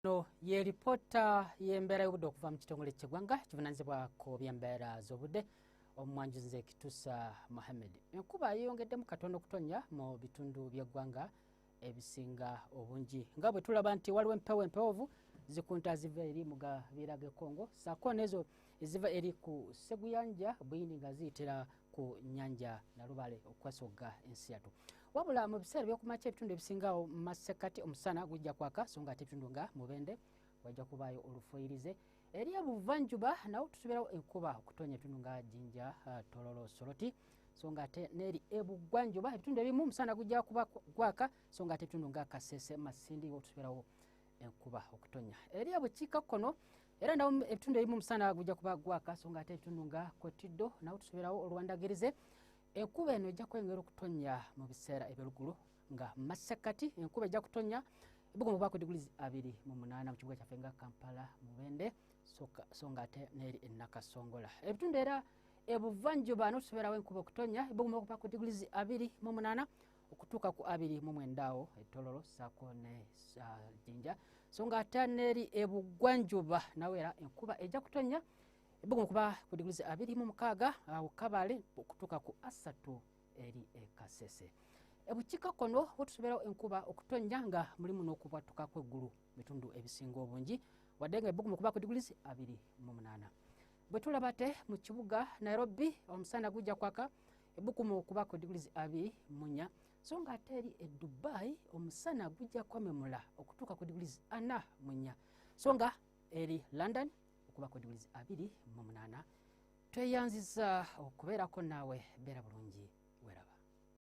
no ye lipoota y'embeera y'obudde okuva mu kitongole kyegwanga kivunanyizibwa ku byembeera z'obudde omumwanjuzi nze kitusa mohammed enkuba yeyongeddemu katonda okutonya mu bitundu by'eggwanga ebisinga obungi nga bwe tulaba nti waliwo empewo empewovu zikunta ziva eri mu gabiira g'ekongo saako nezo eziva eri ku sseguyanja buyindi nga ziyitira ku nyanja nalubale okwesogga ensi yatu wabula mu biseera byokumakya ebitundu ebisingawo masekati omusana gujja kwaka so nga ate ebitundu nga mubende wajja kubaayo olufuyirize eri ebuvanjuba nawo tusubirawo enkuba okutonya ebitundu nga jinja uh, tololo soloti so nga ate neeri ebugwanjuba ebitundu ebimu omusana gujja kuba gwaka so nga ate ebitundu nga kasese masindi wo tusubirawo enkuba okutonya eri ebukiikakkono era nawo ebitundu ebimu omusana gujja kuba gwaka so nga ate ebitundu nga kwetiddo nawo tusoberawo olwandagirize enkuba eno ejja kwengera okutonnya mu biseera ebyolugulu nga mu masekkati enkuba ejja kutonnya ebugoma obaako digulizi abiri mu munaana mu kibuga kyaffe nga kampala mubende so nga ate neeri enakasongola ebitundu era ebuvanjuba notusoberawo enkuba okutonnya ebugoma okubaako digulizi abiri mu munaana okutuuka ku abiri mu mwenda awo etololo saako ne jinja so nga ate neeri ebugwanjuba nawe era enkuba ejja kutonya ebugumu kuba ku diguli za abiri mu mukaaga awo kabale okutuuka ku asatu eri ekasese ebukiika kono wetusobeerawo enkuba okutonya nga mulimu n'okubwatuka kw'eggulu bitundu ebisinga obungi wadde nga ebugumu kuba ku diguli abiri mu munaana bwe tulaba te mu kibuga nairobi omusana gujja kwaka ebukuma okuba ku digrizi abi munya so nga ate eri e dubai omusana gujja kwamemula okutuuka ku digrizi ana munya so nga eri london okuba ku digrizi abiri mu munaana tweyanziza okubeerako naawe beera bulungi weraba